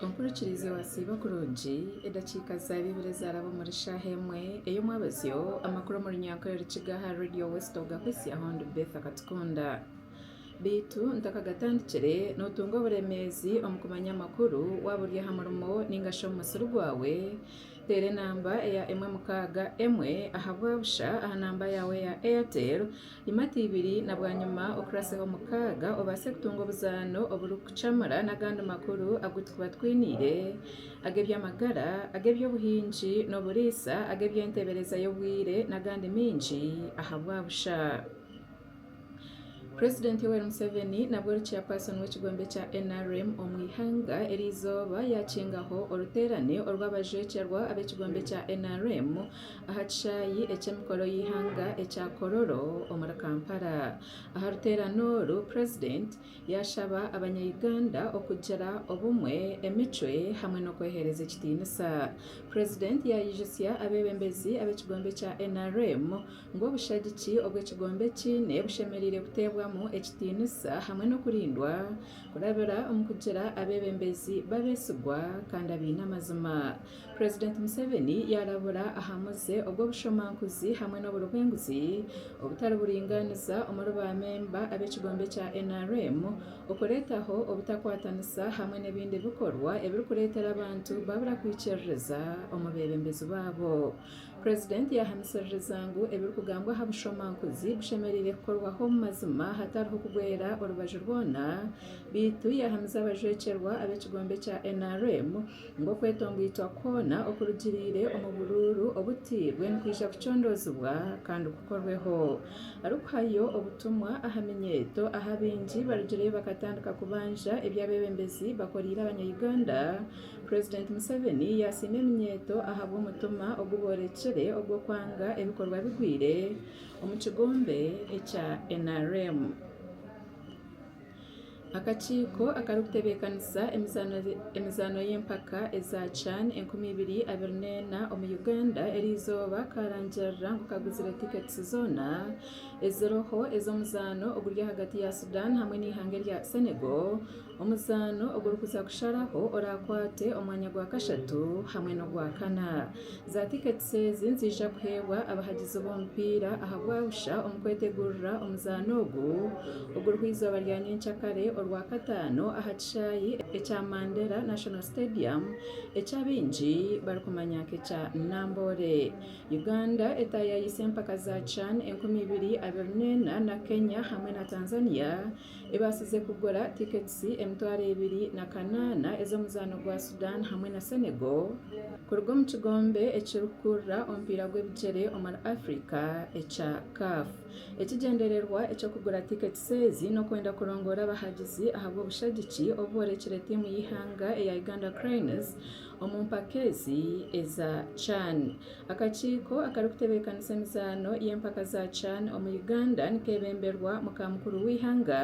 Enkurikirize Wasiiba kurungi edakiika za Baibuli ezaraba omuri shaaha emwe ey'omwabazyo Amakuru omu runyankore Rukiga aha Radio West Ogahitsyaho ndi Beth Akatukunda baitu ntakagatandikire Notunga oburemeezi omu kumanya amakuru Waba ori aha murimo ninga shi omu musiri gwawe Teera enamba eya emwe mukaaga emwe aha bwabusha aha namba yaawe eya Airtel Imata ibiri na bwanyima okuraseho mukaaga obaase kutunga obuzaano oburikucamura n'agandi makuru agu turikuba twiniire, ag'eby'amagara, ag'eby'obuhingi n'oburiisa, ag'eby'enteebereza y'obwire n'agandi maingi ahabwabusha. President Yoweri Museveni nabwo ori Chairperson w'ekigombe kya nrm omu eihanga erizooba yaakingaho oruteerane orw'abajwekyerwa ab'ekigombe kya nrm, aha kishaayi eky'emikoro y'eihanga ekya Kololo omuri Kampala. Aha ruteerane oru, Purezidenti yaashaba Abanya-Uganda okugira obumwe, emicwe hamwe n'okweheereza ekitiinisa. Purezidenti yaayijusya abeebembezi ab'ekigombe kya nrm ngu obushagiki obu ekigombe kiine bushemereire kuteebwamu ekitiinisa hamwe n'okurindwa kurabira omu kugira abeebembezi b'abeesigwa kandi abaine amazima. President Museveni yarabura aha muze ogw'obushomankuzi hamwe n'oburibwenguzi obutari buringaniza omuri ba memba ab'ekigombe kya nrm, okuretaho obutakwatanisa hamwe n'ebindi bikorwa ebirikuretera abantu babura kwikiririza omu bebembezi babo. President yahamisiririza ngu ebirikugambwa aha bushomankuzi bushemereire kukorwaho omu mazima hatariho kugwera orubaju rwona beitu yahamiza abajwekyerwa ab'ekigombe kya nrm, ngu okwetongoitwa kwona okurugiriire omu buruuru obutairwe nikwija kucondoozibwa kandi kukorweho. Arikuhayo obutumwa aha minyeeto ahu abaingi barugireyo bakatandika kubanja ebi abeebembezi bakoreire Abanya-Uganda, Purezidenti Museveni yaasiima eminyeeto ahabw'omutima ogu boorekire ogw'okwanga ebikorwa bigwire omu kigombe ekya nrm. Akakiiko akarikutebeekanisa emizaano y'empaka eza chan enkumi ibiri abiri neena omu Uganda eri izooba kaarangirira ngu kaguzire tiketisi zoona eziriho ez'omuzaano oguri ahagati ya Sudan hamwe n'eihanga erya Senegal, omuzaano ogurikuza kusharaho oraakwate omwanya gwa kashatu hamwe n'ogwakana. Za tiketisi ezi niziija kuheebwa abahagizi b'omupiira ahabwa busha omu kwetegurira omuzaano ogu oguriho eizooba rya nyenkya kare orwakataano aha kishaayi ekya Mandera National Stadium eki abaingi barikumanya nk'ekya Namboole. Uganda etaayaayise empaka za chan enkumi ibiri abiri neena na Kenya hamwe na Tanzania ebaasize kugura tiketisi emitwaro ebiri na kanaana ez'omuzaano gwa Sudan hamwe na Senegal kuruga omu kigombe ekirikukurira omupiira gw'ebigyere omuri Africa ekya CAF. Ekigyendererwa eky'okugura tiketisi ezi n'okwenda kurongoora abahagizi ahabw'obushagiki obu boorekire tiimu y'eihanga eya Uganda Cranes Omu mpaka ezi eza chan, akakiiko akarikutebeekanisa emizaano y'empaka za chan omu Uganda nikeebemberwa muka mukuru w'eihanga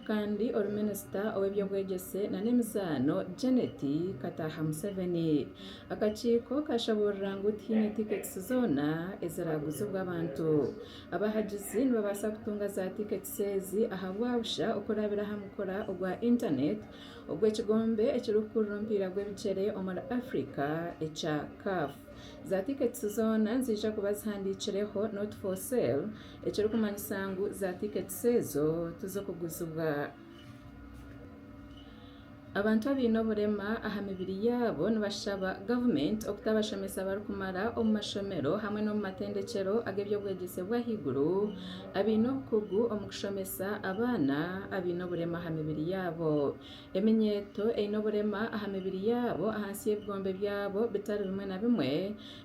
kandi ori minisita ow'eby'obwegyese nana emizaano Janet Kataha Museveni. Akakiiko kaashaburira ngu tihaine tiketisi zoona eziraaguzibwa abantu. Abahagizi nibabaasa kutunga za tiketisi ezi ahabwabusha okurabira aha mukura ogwa intaneeti Obwo ekigombe ekirikukurura omupiira gw'ebigyere omuri Afrika ekya CAF. Za tiketisi zoona niziija kuba zihandiikireho not for sale ekirikumanyisa ngu za tiketisi ezo tizikuguzibwa. Abantu abaine oburema aha mibiri yaabo nibashaba gavumenti okuta abashomesa abarikumara omu mashomero hamwe n'omu matendekyero ag'eby'obwegyese bw'ahaiguru, Abaine obukugu omu kushomesa abaana abaine oburema aha mibiri yaabo. Eminyeeto eine oburema aha mibiri yaabo ahansi y'ebigombe byabo bitari bimwe na bimwe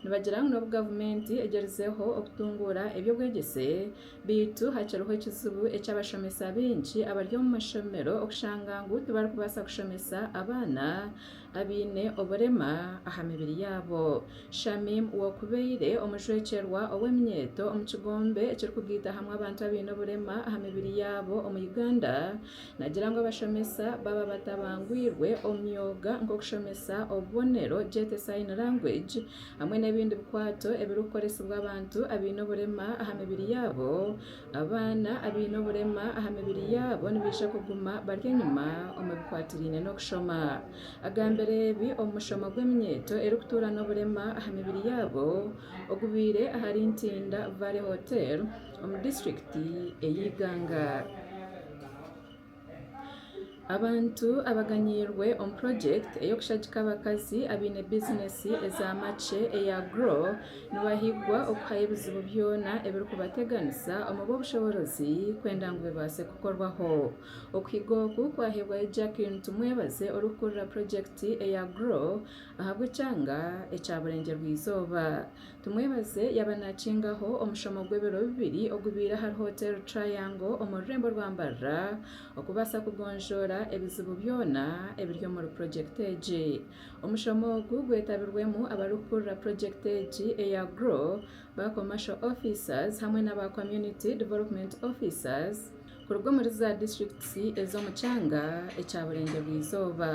nibagira ngu n'obu gavumenti egyerizeho okutunguura eby'obwegyese beitu hakiriho ekizibu eky'abashomesa baingi abari omu mashomero okushanga ngu tibarikubaasa kushomesa abaana abaine oburema aha mibiri yaabo. Shamim w'okubaire omujwekyerwa ow'eminyeeto omu kigombe ekirikugaita hamwe abantu abaine oburema aha mibiri yaabo omu Uganda nagira ngu abashomesa baba batabangwirwe omu myoga nk'okushomesa obubonero, Jete Sign Language, hamwe n'ebindi bikwato ebirikukoresibwa abantu abaine oburema aha mibiri yaabo. Abaana abaine oburema aha mibiri yaabo nibaija kuguma bari enyima omu bikwatiraine n'okushoma. Agambire ebi omu mushomo gw'eminyeeto erikutuura n'oburema aha mibiri yaabo ogubaire ahari Ntinda Valley Hotel omu disiturikiti ey'Iganga. Abantu abaganiirwe omu purojekiti ey'okushagika abakazi abaine bizineesi eza makye eya Grow nibahigwa okuhayo ebizibu byona ebirikubateganisa omu b'obushoboorozi kwenda ngu bibaase kukorwaho. Okuhiga oku kwaheebwayo Jacqueline Tumwebaze orikukurira purojekiti eya Grow ahabw'ekyanga ekya Burengyerwa-Izooba. Tumwebaze yaaba naakingaho omushomo gw'ebiro bibiri ogubaire ahari Hotel Triangle omu rurembo rwa Mbarara okubaasa kugonjoora ebizibu byona ebiri omuri purojekiti egi. Omushomo ogu gwetabirwemu abarikukurira purojekiti egi eya GROW, ba Commercial Officers hamwe n'aba Community Development Officers, Kuruga omuri za disiturikiti ez'omu kyanga ekya Burengyerwa-izooba,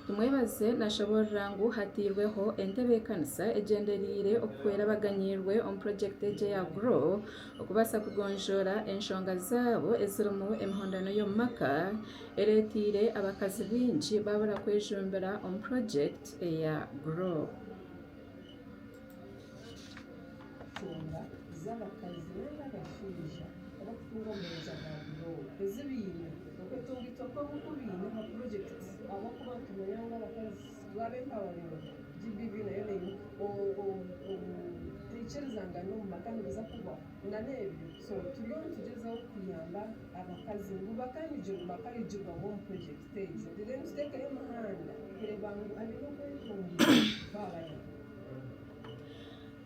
Tumwebaze naashoboorora ngu hatairweho entebeekanisa egyendereire okuhwera abaganyirwe omu purojekiti egi eya Grow okubaasa kugonjoora enshonga zaabo ezirimu emihondano y'omu maka ereeteire abakazi baingi baabura kwejumbira omu purojekiti eya Grow. Enshonga z'abakazi nari abashaija abarikutunga omu meeza ga buroowa ezi baine, okwetunga itwe kwabo oku baine aha purojekiti ahabw'okuba nitumanya ngu abakazi twaba empawarino GBV nayo neimuka obutaikirizangana omu maka nibuza kuhwaho nana ebyo so turiyo nitugyezaho kuyamba abakazi ngu bakanigirwe bakarigirwamu omu purojekiti.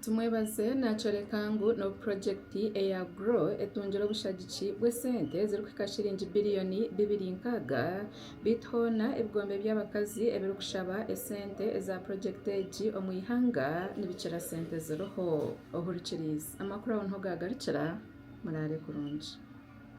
Tumwebaze naakyoreka ngu n'obu purojekiti eya GROW etungire obushagiki bw'esente ezirikuhika shiringi biriyoni bibiri nkaaga, beitu hoona ebigombe by'abakazi ebirikushaba esente eza purojekiti egi omu ihanga nibikira sente eziriho. Ohurikiriize! Amakuru aho niho gaagarukira. Muraare kurungi.